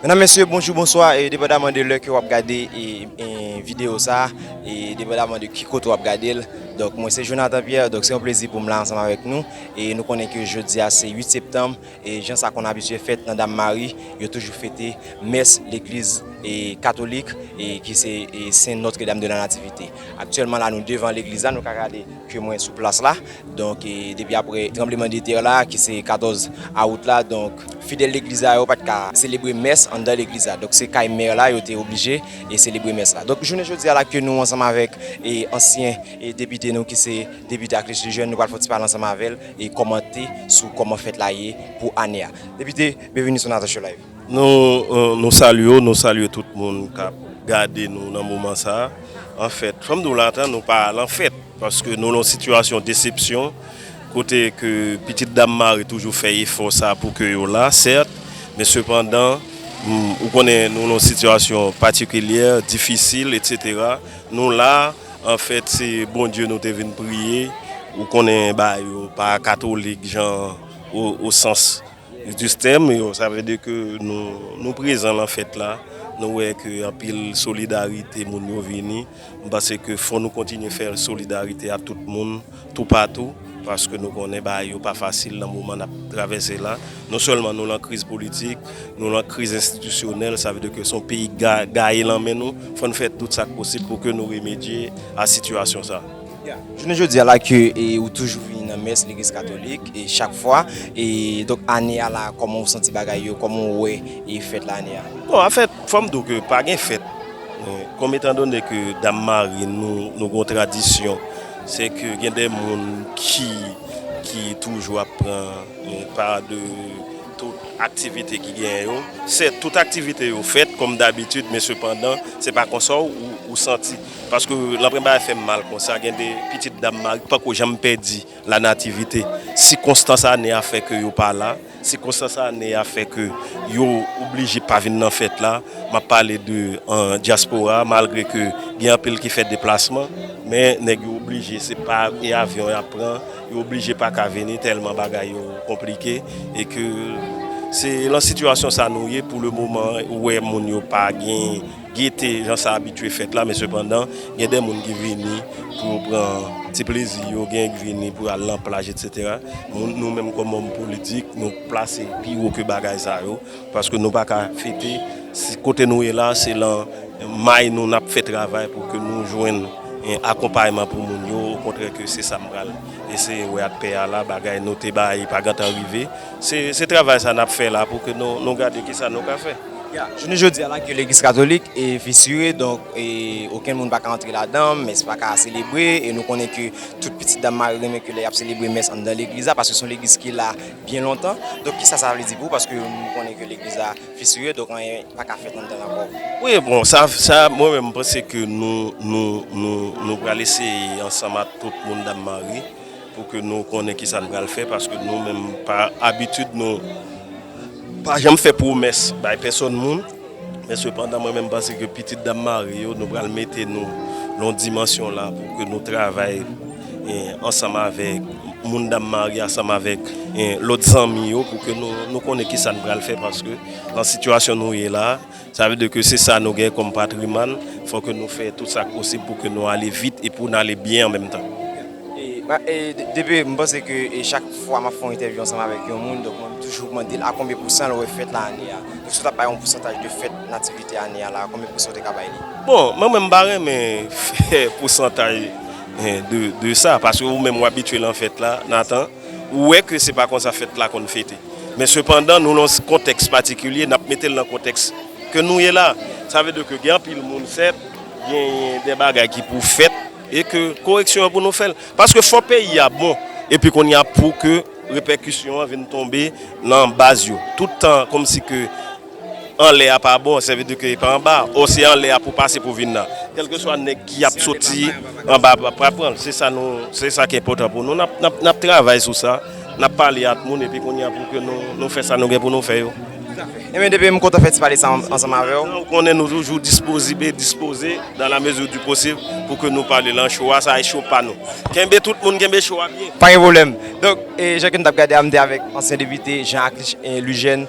Menan mesye bonjou bonswa e debada mande lè ke wap gade e video sa e debada mande ki kote wap gade l Donk mwen se Jonathan Pierre, donk se yon plezi pou m la ansanm avèk nou e nou konnen ke jodi a se 8 septanm e jan sa konn abitye fèt nan dam mari yo toujou fete mès legliz e katolik e ki se e sen notre dame de la nativite. Aktyèlman la nou devan legliz la nou ka gade ke mwen sou plas la donk depi apre tranbleman de tè la ki se 14 aout la donk fidèl legliz la yo pat ka selebre mès anndan legliz la donk se kay mè la yo te oblije e selebre mès la donk jounen jodi a la ke nou ansanm avèk e ansyen e depite nou ki se depite ak liste jèn nou pral fon ti pale ansanm avèl e kòmante sou kòman fèt la ye pou ane a depite byenveni sou Nathan show live. Nou salye w, nou salye tout moun kap gade nou nan moman sa. Anfèt, fòm di w la ata nou pa al an fèt paske nou lan sitiyasyon desepsyon kote ke pitit dam mare toujou fè efò sa pou ke yo la sèt, men sepandan ou konnen nou lan sitiyasyon patikilyè, difisil etc. Nou la, anfèt se Bondye nou te vin priye, ou konnen ba yo pa katolik jan o sans. Duster m yo, sa vle di ke nou prezan lan fèt la, nou wè ke anpil solidarite moun yo vini, m panse ke fò nou kontinye fè solidarite a tout moun toupatou, paske nou konnen bagay yo pa fasil lan moman n ap travèse la, non sèlman nou lan kriz politik, nou lan kriz enstitisyonèl, sa vle di ke se yon peyi gaye lan men nou, fò n fè tout sa k posib pou ke nou remedye a sitiyasyon sa. Jounen jodi a la ke ou toujou vini nan mès legliz katolik e chak fwa e donk ane a la kòman ou santi bagay yo kòman ou wè e fèt la ane a. Bon a fèt fòm di w ke pa gen fèt kòm etan done ke dam mari nou nou gon tradisyon se ke gen de moun ki ki toujou ap pran pa de tout aktivite ki genyen yo sèt tout aktivite yo fèt kòm dabitid men sepandan se pa konsa ou santi. Paske lanpren bagay fèm mal konsa gen de pitit dam mari pako janm pèdi la nativite sikonstans ane a fè ke yo pa la sikonstans ane a fè ke yo oblije pa vin nan fèt la map pale de dyaspora malgre ke gen anpil ki fè deplasman men nèg yo oblije se pa e avyon yap pran yo oblije paka vini tèlman bagay yo konplike e ke se lan sitiyasyon sa nou ye pou le moman ou wè moun yo pa gen. Gete jan sa abitye fèt la men sepandan gen de moun ki vini pou yo pran ti plezi yo, gen ki vini pou yo al nan plaj etsetera. Moun nou menm kòm òm politik nou plase pi wo ke bagay sa yo paske nou pa ka fete si kote nou ye la se lan may nou nap fè travay pou ke nou jwenn akonpayman pou moun yo okontrè ke se sa m pral eseye wè ak pè a la bagay nou te bay pa gentan rive se travay sa nap fè la pou ke nou gade kisa nou ka fè. Ya, jounen jodi a lakye legliz katolik e fisire donk e okenn moun pa ka antre ladan, mès pa ka selebre e nou konnen ke tout pitit dam mari renmen ke lè yap selebre mès anndan legliz la paske son legliz ki la byen lontan, donk kisa sa vle di pou ou paske nou konnen ke legliz la fisire donk anyen pa ka fèt anndan l ankò? Wi bon sa sa mwen menm mpanse ke nou nou nou nou pral eseye ansanm ak tout moun dam mari Pou ke nou konnen ki sa n pral fè paske nou menm pa abitid nou pa janm fè pwomès bay pèsòn moun. Men sepandan mwen menm panse ke pitit dam mari yo nou pral mete nou lon dimansyon la pou ke nou travay ansanm avèk moun dam mari ansanm avèk lòt zanmi yo pou ke nou konnen ki sa n pral fè paske nan sitiyasyon nou ye la. Sa vle di ke se sa nou gen kòm patrimann, fò ke nou fè tout sa k posib pou ke nou ale vit e pou n ale byen an menm tan. E depi, m panse ke chak fwa m ap fè yon entèvyou ansanm avèk yon moun, donk mwen toujou mande l a konbyen pousan l wè fèt la ane a? Donk si w t ap bay yon pousantaj de fèt Nativite ane a la a, konbyen pousan ou te ka bay li? Bon, mwen menm m pa renmen fè pousantaj de sa, paske ou menm w abitye nan fèt la, Nathan. Ou wè ke se pa konsa fèt la konn fete. Men sepandan nou lan kontèks patikilye, nap mete l lan kontèks ke nou ye la. Sa vle di ke gen anpil moun sèt, gen de bagay ki pou fèt e ke koreksyon an pou nou fè l. Paske fò peyi a bon epi konnya pou ke repèkisyon an vin tonbe lan baz yo. Tout tan kòmsi ke. Anlè a pa bon, sèvi di ke e pa anba, o se anlè a pou pase pou vin nan. Kèlkeswa nèg ki ap soti anba a pral pran l. Se sa nou, se sa ki enpòtan pou nou. N ap travay sou sa, n ap pale ak moun epi kounye a pou ke nou fè sa nou gen pou nou fè yo. Enben depi, m kontan fè ti pale sa ansanm avè w. Ou konnen nou toujou dispozibe e dispoze dan la mezi di posib pou ke nou pale lan cho a, sa e cho pa nou. Kenbe tout moun kenbe cho a byen. Pa gen pwoblèm. Donk, jan ke m t ap gade a, m te avèk ansyen depite Jean Aclus Lugène.